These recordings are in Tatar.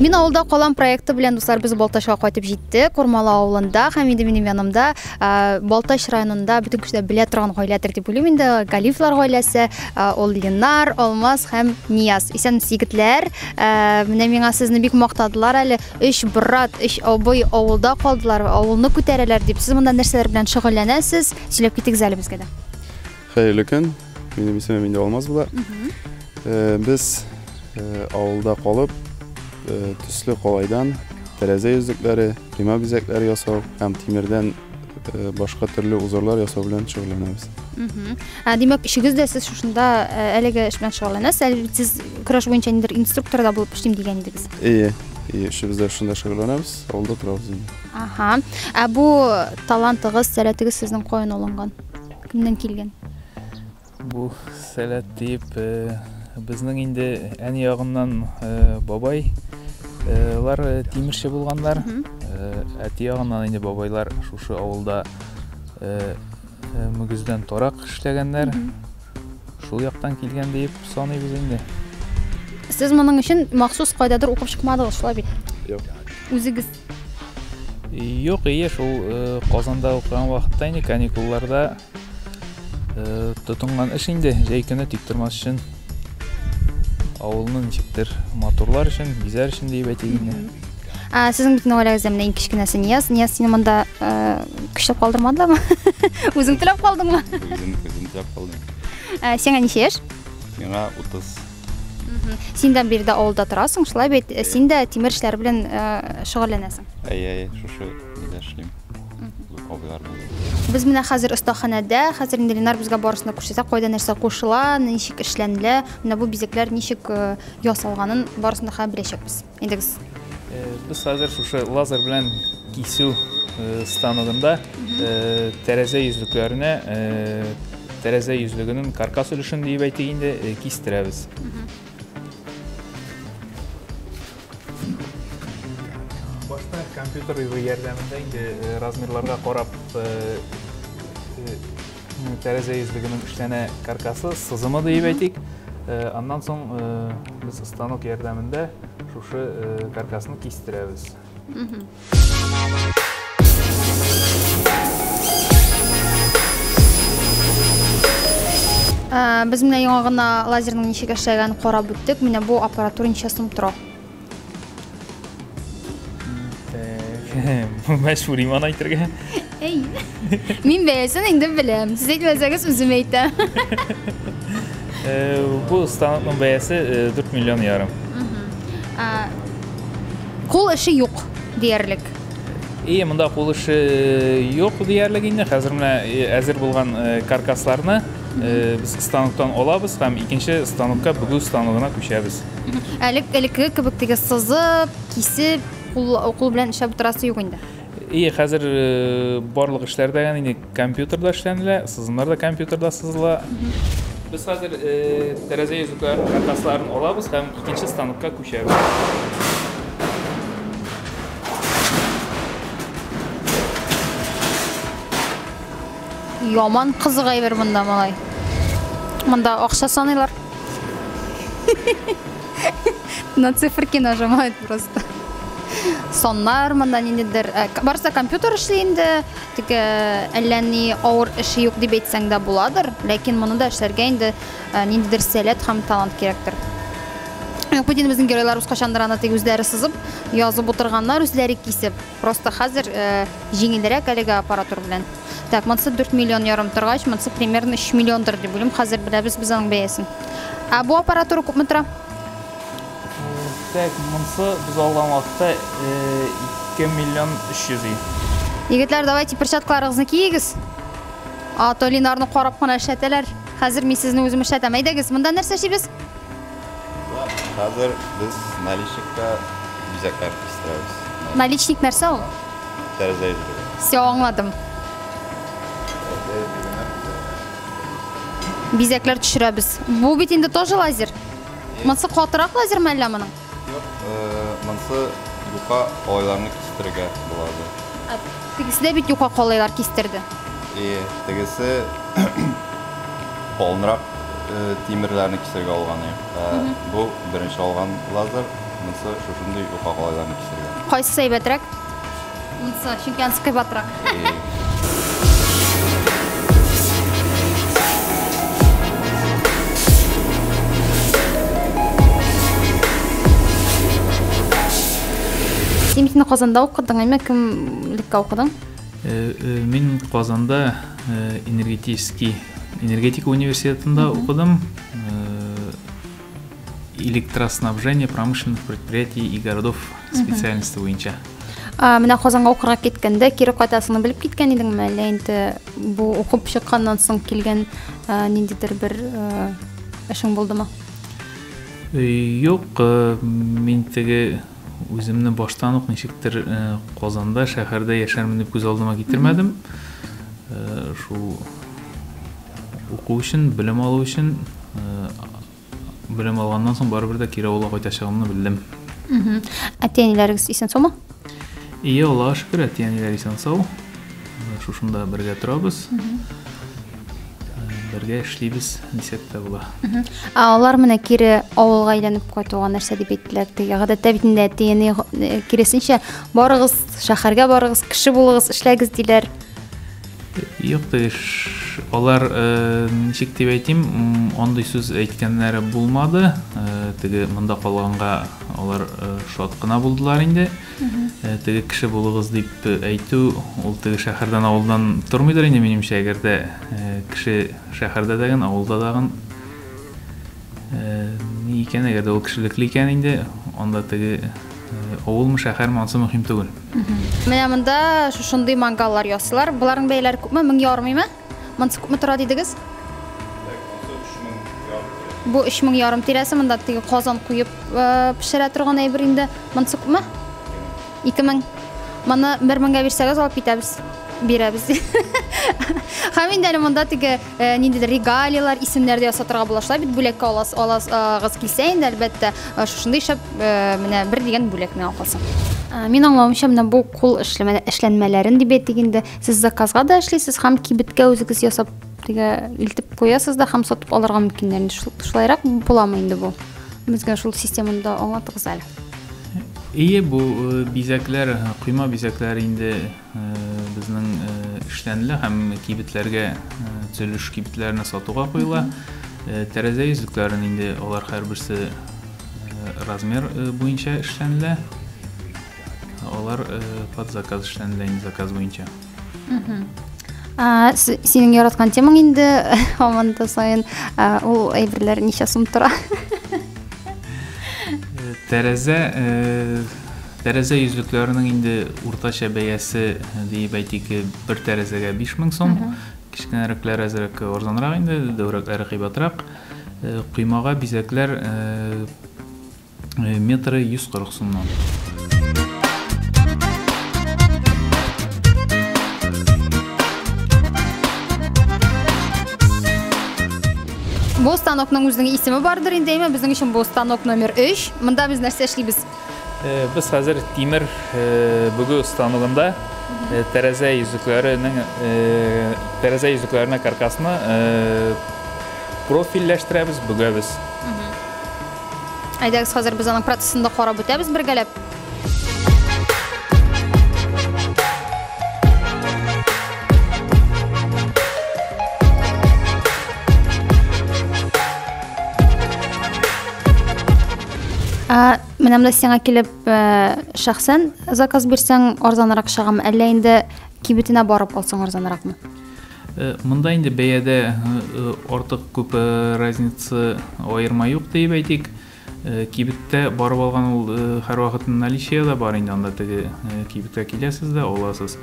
Мин авылда калам проекты белән дуслар без Балтачка кайтып җитте. Кормалы авылында һәм инде минем янымда Балтач районында бөтен кешеләр белә торган гаиләдер дип уйлыйм инде. Галифлар гаиләсе, ул Ленар, Алмаз һәм Нияз. Исән егетләр, менә миңа сезне бик мактадылар әле. Өч брат, өч абый авылда калдылар, авылны күтәрәләр дип. Сез монда нәрсәләр белән шөгыльләнәсез? Сөйләп китегез әле безгә дә. Хәерле көн. Минем исемем инде Алмаз була. Э, без э, авылда калып, э, төсле калайдан тәрәзә йөзлекләре, койма бизәкләре ясау һәм тимердән э, башка төрле узорлар ясау белән шөгыльләнәбез. Мгм. А, Димәк, өчегез дә сез шушында э, әлеге эш белән шөгыльләнәсез. Әле бит сез көрәш буенча ниндидер инструктор да булып эшлим дигән идегез. Ие, ие, өчебез дә шунда шөгыльләнәбез, авылда торабыз инде. Аха. Ә бу талантыгыз, сәләтегез сезнең каян алынган? Кемнән килгән? Бу сәләт дип э, безнең инде әни ягыннан э, бабай э, лар э, тимерче булганнар. Мгм. Э, Әти ягыннан инде бабайлар шушы авылда э, э, мөгездән торак эшләгәннәр. Мгм. Шул яктан килгән диеп саныйбыз инде. Сез моның өчен махсус кайдадыр укып чыкмадыгыз, шулай бит? Юк. Үзегез Юк, ие, шул э, Казанда укыган вакытта инде каникулларда э, тотынган эш инде, җәй көне тик тормас өчен авылны ничектер матурлар өчен, бизәр өчен диеп әйтик инде. Ә, сезнең бит гаиләгездә менә иң кечкенәсе Нияз. Нияз сине монда ә, көчләп калдырмадылармы? Үзең теләп калдыңмы? Үзем, үзем теләп калдым. Ә, сиңа ничә яшь? Миңа 30. Син дә биредә авылда торасың, шулай бит? Э, син дә тимер эшләр белән э, шөгыльләнәсең. Әйе, әйе, шушы нидә эшлим. Абыйлар Без менә хәзер остаханәдә, хәзер инде Ленар безгә барысын да күрсәтә, кайда нәрсә кушыла, ничек эшләнелә, менә бу бизәкләр ничек э, ясалганын барысын да хәзер беләчәкбез. Идегез. Без хәзер шушы лазер белән кисү станогында тәрәзә йөзлекләренә тәрәзә йөзлегенең каркас өлешен диеп әйтик инде кистерәбез. Башта компьютер ярдәмендә инде размерларга карап Тәрәзә йөзлегенең эшләнә каркасы, сызымы диеп әйтик. Аннан соң без станок ярдәмендә шушы каркасны кистерәбез. Без менә яңа гына лазерның ничек эшләгәнен карап үттек. Менә бу аппаратура ничә сум тора? Мәш Фуриман әйтергә. Әй. Мин бәясен инде беләм. Сез әйтмәсәгез үзем әйтәм. Бу станокның бәясе 4 миллион ярым. Кул эше юк диярлек. И монда кул эше юк диярлек инде. Хәзер менә әзер булган каркасларны без станоктан алабыз һәм икенче станокка бүгү станогына күчәбез. Әлек элекке кебек теге сызып, кисеп, кул кул белән эшләп утырасы юк инде. Ие, хәзер э, барлык эшләр дә инде компьютерда эшләнелә, сызымнар да компьютерда сызыла. Без хәзер э, тәрәзә йөзекләр каркасларын алабыз һәм икенче станокка күчәбез. Яман кызык әйбер монда малай. Монда акча саныйлар. На циферки нажимает просто. Соннар монда ниндидер. Э, барса компьютер эшли инде. Тик э, әллә ни авыр эше юк дип әйтсәң дә буладыр. Ләкин моны да эшләргә инде э, ниндидер сәләт һәм талант кирәктер. Юк, бит инде безнең геройлар үз качандыр аны тик үзләре сызып, язып утырганнар, үзләре кисеп. Просто хәзер җиңелрәк әлеге аппаратур белән. Так, монсы 4 миллион ярым торгач, монсы примерно 3 миллиондыр дип уйлыйм. Хәзер беләбез без аның бәясен. Ә бу аппаратура күпме тора? Так, монсы без алган вакытта 2 миллион 300 и. Егетләр, давайте перчаткаларыгызны киегез. А то Ленарны карап кына эшләтәләр. Хәзер мин сезне үзем эшләтәм. Әйдәгез, монда нәрсә эшлибез? Хәзер без наличникка бизәкләр кистерәбез. Наличник нәрсә ул? Тәрәзә йөзлеге. Все, аңладым. Бизәкләр төшерәбез. Бу бит инде тоже лазер. Монсы катырак лазер ме әллә моның? Юк, э, монсы юка алайларны кистерергә булады. Ә, Тегесе дә бит юка калайлар кистерде. И тегесе полнырак Тимерләрне кисергә алган ик. Бу беренче алган лазер, монсы шушындый юка калайларны кисергә. Кайсысы әйбәтрәк? Монсы, чөнки анысы кыйбатрак. Син бит инде Казанда укыдың, әйме? Кем лекка укыдың? Мин Казанда энергетический энергетика университетында укыдым электроснабжение промышленных предприятий и городов специальности буенча ә, менә казанга укырга киткәндә кире кайтасыңны белеп киткән идеңме әллә инде бу укып чыкканнан соң килгән ә, ниндидер бер ә, эшең булдымы юк ә, мин теге Үземне баштан ук ничектер Казанда, шәһәрдә яшәрмен дип күз алдыма китермәдем. Шул уку өчен, белем алу өчен, белем алганнан соң барыбер дә кире авылга кайтачагымны белдем. Әти-әниләрегез исән саумы? Ие, Аллага шөкер, әти-әниләр исән сау. Шушында бергә торабыз. бергә эшлибез дисәк тә була алар менә кире авылга әйләнеп кайтуга нәрсә дип әйттеләр теге гадәттә бит инде әти әни э, киресенчә барыгыз шәһәргә барыгыз кеше булыгыз эшләгез диләр юк теге алар э, ничек дип әйтим андый сүз әйткәннәре булмады э, теге монда калганга алар шат кына булдылар инде Теге кеше булыгыз дип әйтү, ул теге шәһәрдән, авылдан тормыйдыр инде, минемчә, әгәр дә кеше шәһәрдә дәген, авылда дагын. Ни икән, әгәр дә ул кешелекле икән инде, анда теге авылмы, шәһәрме, ансы мөһим түгел. Менә монда шушындый мангаллар ясыйлар. Боларның бәяләре күпме? Мең ярмыймы? Монсы күпме тора дидегез? Бу 3 мең ярым тирәсе, монда теге казан куеп э, пешерә торган әйбер инде. Монсы күпме? 2 мең. Моны 1 меңгә бирсәгез алып китәбез. Бирәбез. Һәм инде әле монда теге э, ниндидер регалиялар, исемнәр дә ясатырга була. Шулай бит бүләккә алас, алас, агыз килсә инде әлбәттә, э, шушындый шәп э, менә бер дигән бүләк миңа калса. Ә, Мин аңлавымча, менә бу кул эшләмә- эшләнмәләрен дип әйтик инде, Сез заказга да эшлисез һәм кибеткә үзегез ясап тигә илтеп куясыз да һәм сатып алырга мөмкиннәр. Шулайрак буламы инде бу? Безгә шул системаны да аңлатыгыз әле. Ие, бу э, бизәкләр, э, койма бизәкләр инде э, безнең эшләнелә һәм кибетләргә төзелеш кибетләренә сатуга куела. Тәрәзә йөзлекләрен инде алар һәрберсе размер буенча эшләнелә. Алар э, под заказ эшләнде, инде заказ буенча. А, с- синең яраткан темаң инде һаман да саен а, ул әйберләр ничә сум тора? Э, Тәрәзә э, тәрәзә йөзлекләренең инде уртача бәясе э, диеп әйтик э, бер тәрәзәгә 5000 сум. Кечкенәрәкләр әзрәк арзанрак инде, дәүрәкләре кыйбатрак. Э, Коймага бизәкләр э, метры 140 сумнан. Бу станокның үзенең исеме бардыр инде, әмма безнең өчен бу станок номер 3. Монда без нәрсә эшлибез? Э, без хәзер тимер э, бүгү станогында э, тәрәзә йөзекләренең тәрәзә йөзекләренә каркасны профильләштерәбез, бүгәбез. Әйдәгез, хәзер без аның процессын да карап үтәбез бергәләп. Ә, менә монда сиңа килеп ә, шәхсән заказ бирсәң арзанрак чыгамы, әллә инде кибетенә барып алсаң арзанракмы? Э, монда инде бәядә э, э, артык күп разница аерма юк диеп әйтик кибеттә барып алган ул һәрвакыт наличие да бар инде анда теге кибеткә киләсез дә аласыз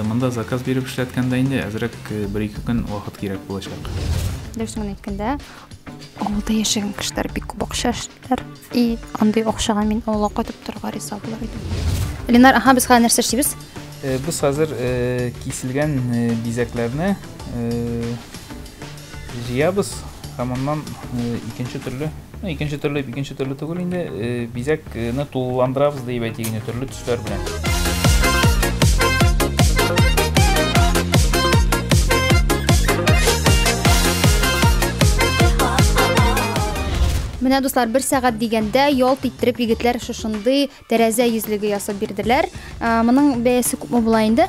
монда заказ биреп эшләткәндә инде әзрәк бер ике көн вакыт кирәк булачак дөресен генә әйткәндә Авылда яшәгән кешеләр бик күп акча эшлиләр. И андый акчага мин авылга кайтып торырга риза булыр идем. Ленар, аха, без хәзер нәрсә эшлибез? Э, без хәзер э, киселгән э, бизәкләрне җыябыз һәм аннан икенче төрле, ну, икенче төрле, икенче төрле түгел инде, бизәкне тулыландырабыз дип әйтик инде, төрле Төшләр белән. Менә дуслар, бер сәгать дигәндә ялт иттереп егетләр шушындый тәрәзә йөзлеге ясап бирделәр. Ә, Моның бәясе күпме була инде?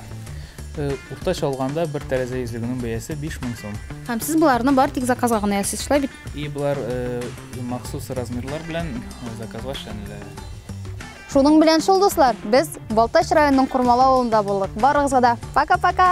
Э, Уртача алганда бер тәрәзә йөзлегенең бәясе 5000 сум. Һәм сез боларны бар тик заказга гына ясыйсыз, шулай бит? И болар э, махсус размерлар белән э, заказга эшләнелә. Шуның белән шул, дуслар, без Балтач районының Курмала авылында булдык. Барыгызга да пока-пока!